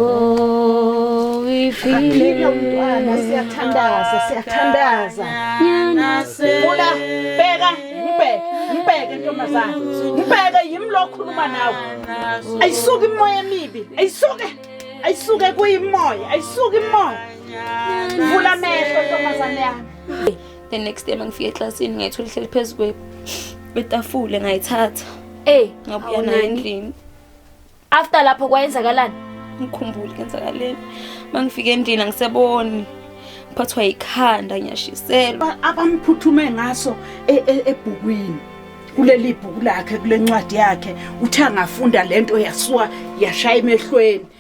Oh, we feel Aphile umntwana siyathandaza siyathandaza. Bula bheka mbheke mbheke ntombazana. Mbheke yimi lo okhuluma nawe. Ayisuke imoya emibi. Ayisuke. Ayisuke kuyimoya. Ayisuke imoya. Vula amehlo ntombazana yami. the next day mangifika eklasini ngayithola ihleli phezu kwetafule ngayithatha ey ngabuya nayo endlini after lapho kwayenzakalani ngikhumbule kenzakaleni mangifika endlini angiseboni ngiphathwa yikhanda ngiyashiselwa abamphuthume ngaso e, e, ebhukwini kuleli bhuku lakhe kule ncwadi yakhe uthe angafunda lento yasuka yashaya emehlweni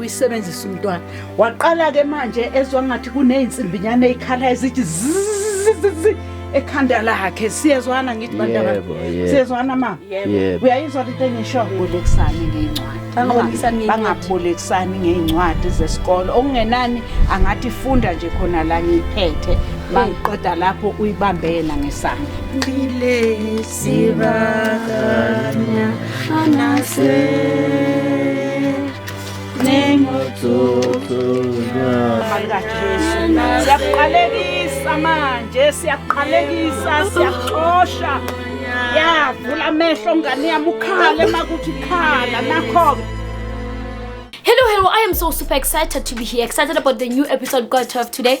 uyisebenzisa umntwana waqala ke manje ezwa ngathi kuneyinsimbinyane eyikhala ezithi ekhanda lakhe siyezwana ngithi bandaba siyezwana mama uyayizwa lento engisho bolekisani ngeencwadi bangabolekisani ngeencwadi zesikole okungenani angathi funda nje khona la ngiyiphethe bangiqeda lapho uyibambe yena ngesandla Sibakanya anase siyakuqalekisa manje siyakuqalekisa siyakuxosha yavula amehlo ngane yami ukhale uma kuthi khala nakho-ke Hello, hello. I am so super excited to be here. Excited about the new episode God 12 today.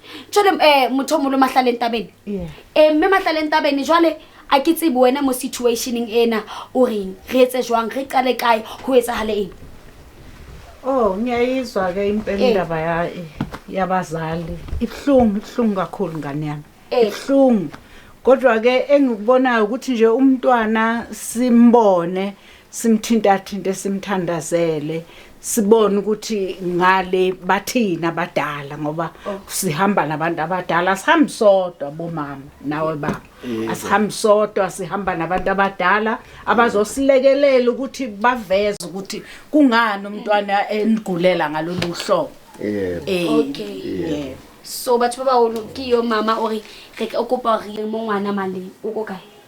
jale um eh, motho o molo matlhale entabene um eh, mme matlhale entabene jale a ke tsebe wena mo situationeng ena o reng re etse jwang re qale kae go etsagale eng o oh, ngiyayizwa ke impela indaba eh. yabazali ibuhlungu ibuhlungu kakhulu ngane yami ibuhlungu kodwa-ke engikubonayo ukuthi nje umntwana simbone simthintathinte simthandazele sibone ukuthi ngale bathina abadala ngoba oh. sihamba nabantu abadala sihambi sodwa bomama nawe baba asihambi sodwa sihamba nabantu abadala abazosilekelela ukuthi baveze ukuthi kungani umntwana enigulela ngalolu hlobo yebo eh, okay yebo so batho ba ba o kiyo mama o re re kopa re mo ngwana male o ko kae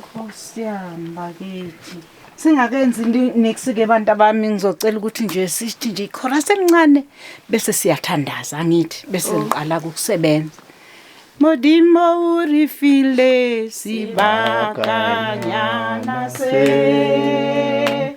Nkosiyami bakithi. Singakenzi niksi ke bantu abami ngizocela ukuthi nje sithi nje ikhora semncane bese siyathandaza angithi bese oh. ngiqala ukusebenza. Modimo urifile sibakanyana se.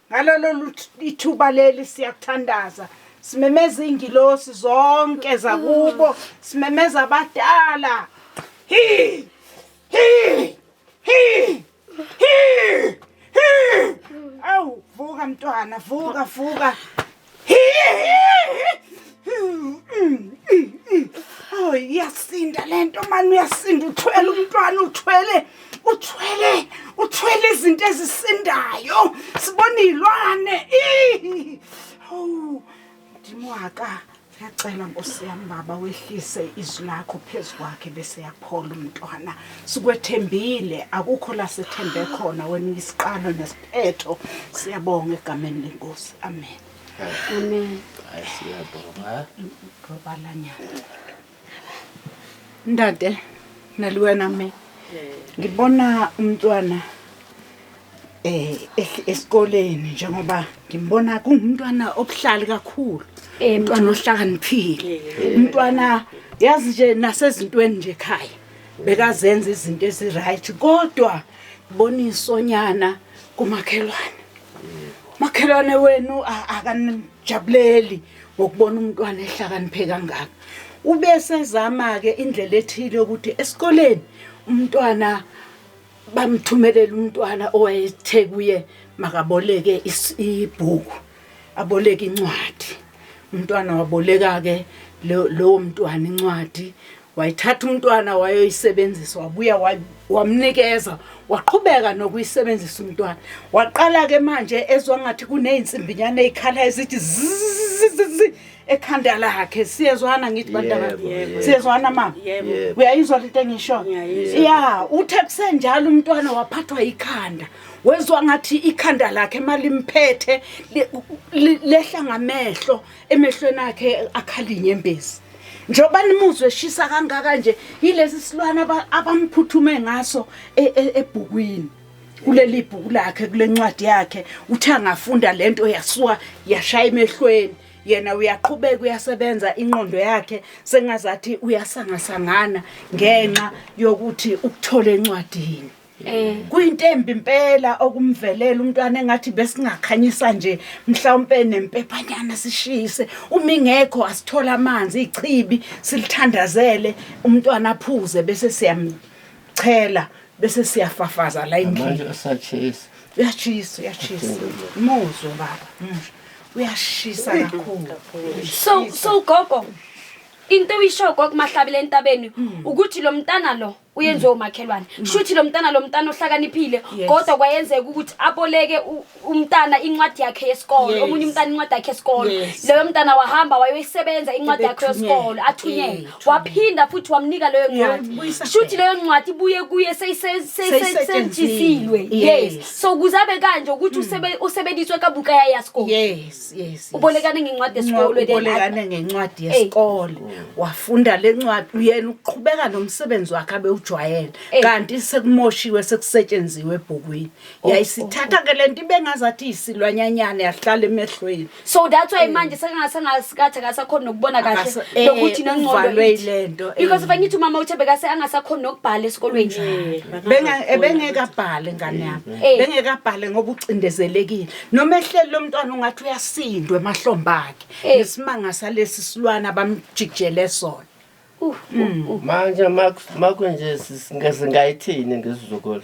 Ngalolu ithuba leli siyakuthandaza. Simemeza ingilosi zonke zakubo, simemeza abadala. Hi! Hi! Hi! Hi! Hi! Awu vuka mntwana, vuka vuka. Oh iyasinda lento mani uyasinda uthwele umntwana uthwele uthwele uthwele izinto ezisindayo sibona izilwane oh ndimwaka Ngiyacela Nkosi yami baba wehlise izwi lakho phezu kwakhe bese yaphola umntwana. Sikwethembile akukho la sethembe khona wena isiqalo Phetho siyabonga egameni lenkosi. Amen. Amen. Hayi siyabonga. Ngobalanyana. Ndade naliwena me. Ngibona umntwana eh ehl- esikoleni njengoba ngimbona kungumntwana obuhlali kakhulu. Eh, Umntwana ohlakaniphile. Umntwana yazi nje nasezintweni nje ekhaya. bekazenza izinto eziright kodwa ngibona isonyana kumakhelwane makhelwane wenu akanijabuleli ngokubona umntwana ehlakaniphe kangaka ube sezama-ke indlela ethile yokuthi esikoleni umntwana bamthumelela umntwana owayethe kuye makaboleke ibhuku aboleke incwadi umntwana waboleka-ke lowo mntwana incwadi wayithatha umntwana wayoyisebenzisa wabuya wamnikeza waqhubeka nokuyisebenzisa umntwana waqala-ke manje ezwa ngathi kuney'nsimbinyana ey'khala ezithi ekhanda lakhe siyezwana ngithi bantu abami siyezwana mama uyayizwa lento engisho ya uthe kusenjalo umntwana waphathwa ikhanda wezwa ngathi ikhanda lakhe imali mphethe lehla ngamehlo emehlweni akhe akhalinye embezi njengoba nimuzwe eshisa kangaka nje yilesi silwane abamphuthume ngaso e, e, ebhukwini kuleli bhuku lakhe kule ncwadi yakhe uthe angafunda lento yasuka yashaya emehlweni yena uyaqhubeka uyasebenza inqondo yakhe sengazathi uyasangasangana ngenxa yokuthi ukuthole encwadini eh. kuyintembi impela okumvelela umntwana engathi besingakhanyisa nje mhlawumpe nempephanyana sishise uma ingekho asithola amanzi ichibi silithandazele umntwana aphuze bese siyamchela bese siyafafaza la endlini uyashisa uyashisa muzwe baba muzwe uyashisa kakhulu so so gogo into uyisho gogo mahlabile entabeni hmm. ukuthi lo mntana lo uyenziwe hmm. umakhelwane hmm. shuthi lo mntana lo mntana ohlakaniphile kodwa kwayenzeka ukuthi aboleke umntana incwadi yakhe yesikole omunye umntana incwadi yakhe yesikole leyo mntana wahamba wayoyisebenza incwadi yakhe yesikole athunyelwe waphinda futhi wamnika leyo ncwadi shuthi leyo ncwadi ibuye kuye seyisetshenzisiwe yes so ukuze abe kanje ukuthi hmm. usebenziswe kabuka ya yasikole yes yes ubolekane ngencwadi yesikole ubolekane ngencwadi yesikole wafunda le ncwadi uyena uqhubeka nomsebenzi wakhe abewujwayele kanti sekumoshiwe sekusetshenzisiwe ebhukwini oh, yayisithatha oh, oh. ke lento ibengazathi isilwanyanyane yahlala emehlweni so that's why manje sekangasengasikathe akasakhona nokubona kahle Akasa- eh, nokuthi nengcondo uvalwe ithi. ilento, eh. because if angithi umama uthe bekase angasakhona nokubhala esikolweni Benga- eh, bengeke abhale ngane yami Eh. bengeke abhale ngoba ucindezelekile noma ehleli lo mntwana ungathi uyasindwa emahlombe akhe Eh. ngesimanga salesi silwana bamjikijele sona Uh, uh, uh. manje makunje singayithini ngesizukulu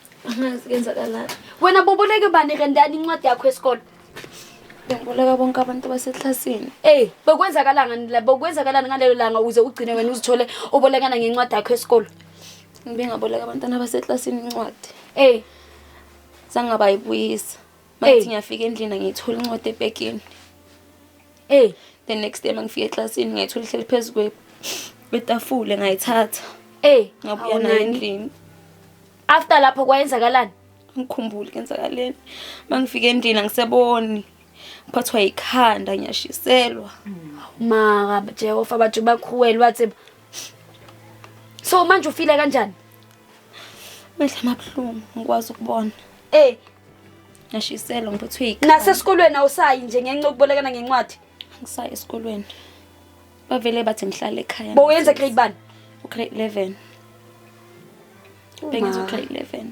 angazi kenzakalani wena boboleke bani rendani incwadi yakho yesikole ngiboleka bonke abantu baseklasini eyi bekwenzakalani bekwenzakalani ngalelo langa uze ugcine wena uzithole ubolekana ngencwadi yakho yesikole ngibengaboleka abantwana baseklasini incwadi eyi zangabayibuyisa Mangithi ngiyafika endlini ngiyithola incwadi ebhekini. Hey, the next day mangifika eclassini ngayithola ihleli phezu kwe kwetafule ngayithatha. Hey, ngabuya nayo endlini. After lapho kwayenzakalani? Ngikhumbule kenzakaleni. Mangifika endlini angiseboni. Ngiphathwa yikhanda ngiyashiselwa. Maka Jehova bathu bakhuwela wathi So manje ufile kanjani? Mehla mabuhlungu ngikwazi ukubona. Eh, Ngashiselwa ngiphethwe yikhanda. Nasesikolweni awusayi nje ngenxa yokubolekana ngencwadi. Angisayi esikolweni. Bavele bathi ngihlale ekhaya. Bo uyenza grade bani? Ugrade 11. Bengenza ugrade 11.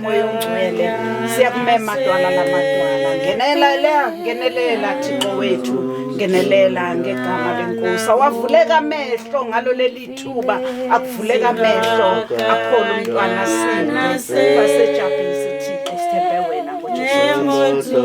Moya ongcwele siyakumema dwala lamadwala ngenelela ngenelela Thixo wethu ngenelela ngegama lenkosi awavuleka amehlo ngalo leli thuba akuvuleka amehlo akhona umntwana sini basejabhisi Thixo sithembe wena ngoJesu Kristu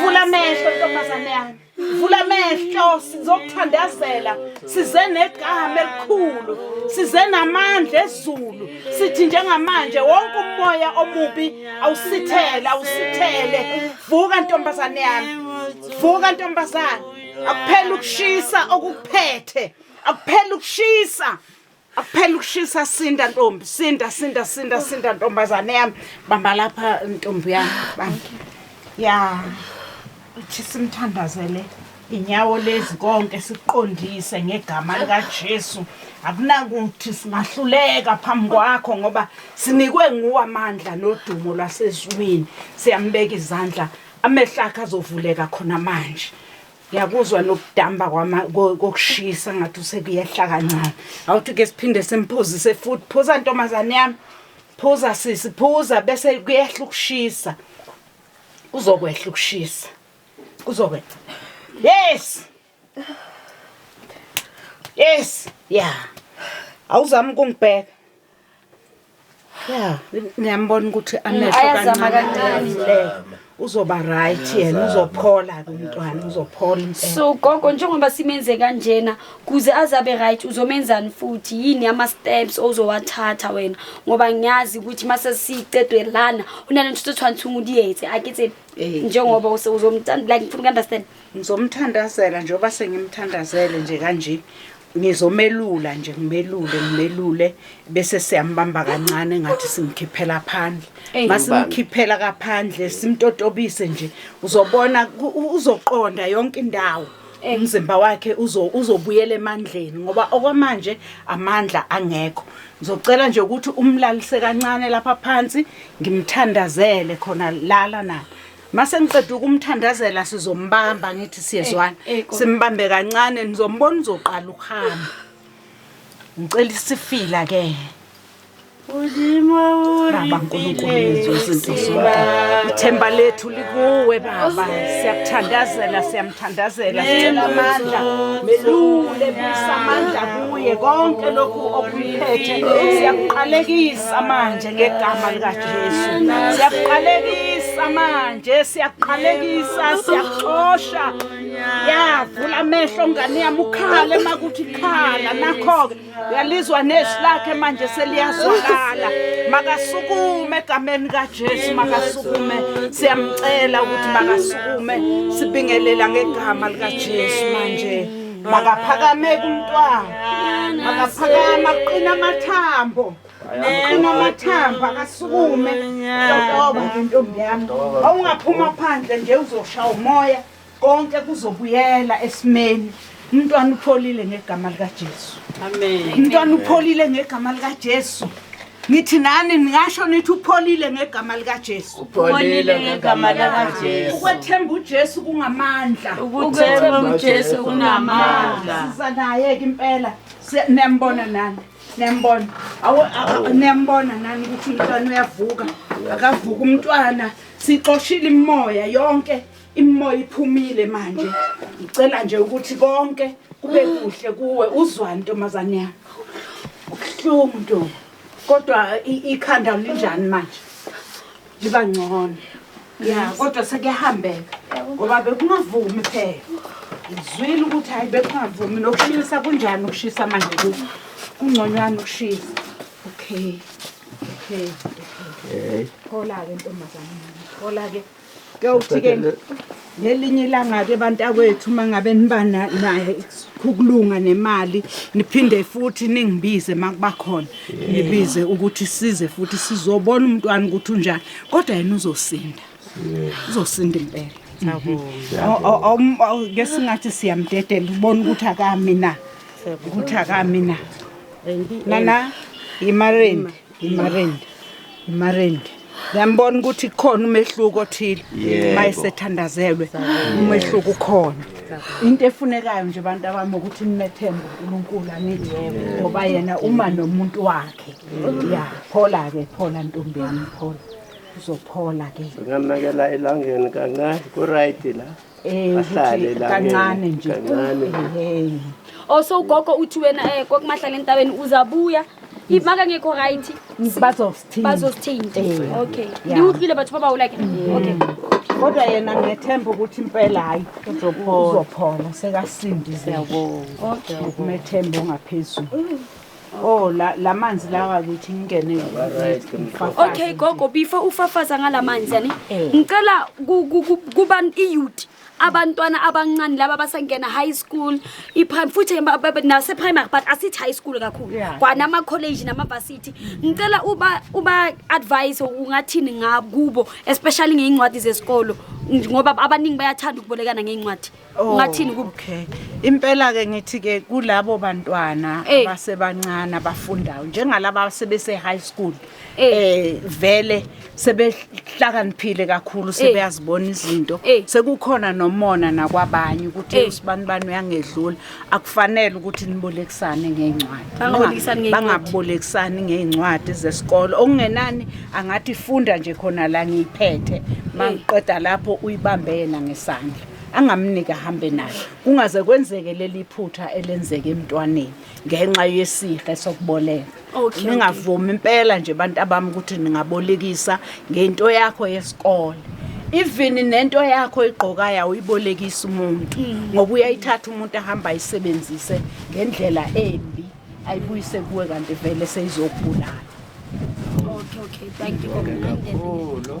vula amehlo ntombazane yami vula amehlo sizokuthandazela size negama elikhulu size namandla ezulu sithi njengamanje wonke umoya omubi awusithele awusithele vuka ntombazane yami vuka ntombazane akuphela ukushisa okukuphethe akuphela ukushisa Akuphela ukushisa sinda ntombi, sinda sinda sinda sinda ntombazane yami. Bamba lapha ntombi yami. Bamba. Ya. Uthi simthandazele inyawo lezi konke siqondise ngegama likaJesu. Akunakuthi singahluleka phambi kwakho ngoba sinikwe nguwe amandla nodumo lwasezulwini. Siyambeka izandla amehlo akhe azovuleka khona manje. ngiyakuzwa nokudamba kokushisa ngathi usekuyehla kancane awuthi ke siphinde simphuzise futhi phuza ntombazane yami phuza sisi phuza bese kuyehla ukushisa kuzokwehla ukushisa kuzokwehla yes yes ya awuzami ukungibheka ya ngiyambona ukuthi amehlo ayazama kancane le uzoba right yena uzophola kumntwana uzophola impela so gogo njengoba simenze kanjena kuze azabe right uzomenzani futhi yini ama steps ozowathatha wena ngoba ngiyazi ukuthi mase sicedwe lana unalento sithwanthunga uliyenze akithe Eh, njengoba use- uzomthanda like ngifuna uku-understand ngizomthandazela njengoba sengimthandazele nje kanje Ngizomelula nje ngimelule ngimelule bese siyambamba kancane ngathi simkhiphela phandle. Eyi, Masimkhiphela kaphandle simtotobise nje uzobona ku- u- uzoqonda yonke indawo. Umzimba wakhe uzo uzobuyela emandleni ngoba okwamanje amandla angekho. Ngizocela nje ukuthi umlalise kancane lapha phansi ngimthandazele khona lala nala. Mase ngiqeda ukumthandazela sizombamba ngithi siyezwana. Eh, eh, Simbambe kancane nizombona uzoqala ukuhamba. Ngicela isifila ke. Ulima Baba uNkulunkulu yethu usintosoba. Ithemba lethu likuwe baba. Siyakuthandazela siyamthandazela sicela amandla. Melule bisa amandla kuye konke lokhu okuphethe siyakuqalekisa manje. ngegama likaJesu siyakuqalekisa manje siyakuqalekisa siyakuxosha yavula amehlo ngane yami ukhale makuthi khala nakho-ke uyalizwa nezwi lakhe manje seliyazwakala makasukume egameni kajesu makasukume siyamcela ukuthi makasukume sibingelela ngegama likajesu manje makaphakameke umntwana makaphakama kuqina amathambo unamathambo akasukume toba ngentombi yami awungaphuma phandle nje uzosha umoya konke kuzobuyela esimeni umntwana upholile ngegama likajesu umntwana upholile ngegama likajesu ngithi nani ningasho nithi upholile ngegama likajesu upholile ngegama likajesu ukwethemba ujesu kungamandla ukwethemba ujesu kunamandla siza naye-ke impela niyambona nani niyambona niyambona nani ukuthi umntwana uyavuka akavuka umntwana sixoshile imimoya yonke imimoya iphumile manje ngicela nje ukuthi konke kube kuhle kuwe uzwani ntombazane yami ubuhlungu ntombi kodwa ikhanda linjani manje liba ngcono ya kodwa sekuyahambeka ngoba bekungavumi phela ngizwile ukuthi hhayi bekungavumi nokushisa kunjani ukushisa manje ku kungconywana ukushisa okay okay okay phola-ke ntombazane phola-ke kuyawuthi-ke Ngelinye ilanga-ke bantakwethu uma ngabe niba naye ukulunga nemali niphinde futhi ningibize uma kuba khona nibize ukuthi size futhi sizobona umntwana ukuthi unjani kodwa yena uzosinda uzosinda impela ke singathi siyamdedela ubona ukuthi akami na ukuthi akami na nana yimareni Marindi. Marindi. Ngiyambona ukuthi khona umehluko othile. Yebo. Mayesethandazelwe umehluko ukhona. Into efunekayo nje abantu abami ukuthi nimethembe uNkulunkulu anithi ngoba yena uma nomuntu wakhe. Ya, phola ke, phola ntombi yami, phola. Uzophola ke. Ngamekela elangeni kancane ku-right la Eh, Ahlale ukuthi la kancane ngeke, nje. kancane. Eh. Oh so ugogo uthi wena eh kokumahlala entabeni uzabuya. If maka ngekho right Bazosithinta. bazosithinta. Eh. Okay. Yeah. Ndiwuhlile bathu baba ulike. Okay. Kodwa yena ngethemba ukuthi impela hayi uzophola. Uzophola sekasindile. Siyabonga. Okay. Umethemba ongaphezulu. Oh la lamanzi lawa ukuthi ngingene ngifafaze. Okay gogo before ufafaza ngalamanzi yani Eh. ngicela ku- ku- ku- kuba iyouth abantwana abancane laba basangena high school iprim futhi ba- ba- ba- nase primary but asithi high school kakhulu Yeah. kwana ama college nama varsity ngicela uba uba advise ungathini ngakubo especially ngeincwadi zesikolo ngoba abaningi bayathanda ukubolekana ngeincwadi Oh, Ungathini ku- okay impela ke ngithi ke kulabo bantwana Eh. abasebancane abafundayo njengalaba sebese high school Eh. eh vele sebehlakaniphile kakhulu sebeyazibona izinto Eh. sekukhona nomona nakwabanye ukuthi Eh. usibani bani uyangedlula akufanele ukuthi nibolekisane ngeencwadi Bangabolekisani ngeencwadi. bangabolekisani ngeencwadi zesikole okungenani angathi funda nje khona la ngiyiphethe mangiqeda lapho uyibambe yena ngesandla angamniki ahambe naye kungaze kwenzeke leli phutha elenzeke emntwaneni ngenxa yesihe sokuboleka Okay, ningavumi impela nje abantu abami ukuthi ningabolekisa ngento yakho yesikole even nento yakho igqokayo awuyibolekisi umuntu ngoba uyayithatha umuntu ahamba ayisebenzise ngendlela embi ayibuyise kuwe kanti vele seyizokubulala Okay, okay. Thank you. Ngibonge kakhulu.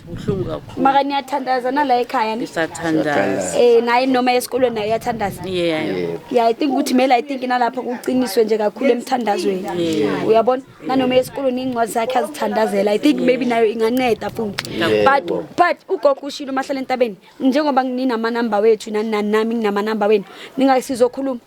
Buhlungu kakhulu. Maka niyathandaza nala ekhaya ni. Isathandaza. Eh naye noma esikolweni naye uyathandaza. Yeah. Yebo. Yeah, I think ukuthi mele I think nalapha kuqiniswe nje kakhulu emthandazweni. Yeah. Uyabona? Nanoma esikolweni incwadi zakhe azithandazela. I think maybe nayo inganceda futhi. Yeah. But but ugogo ushilo mahlala entabeni njengoba nginama number wethu nani nani nami nginama number wenu. Ningasizokhuluma.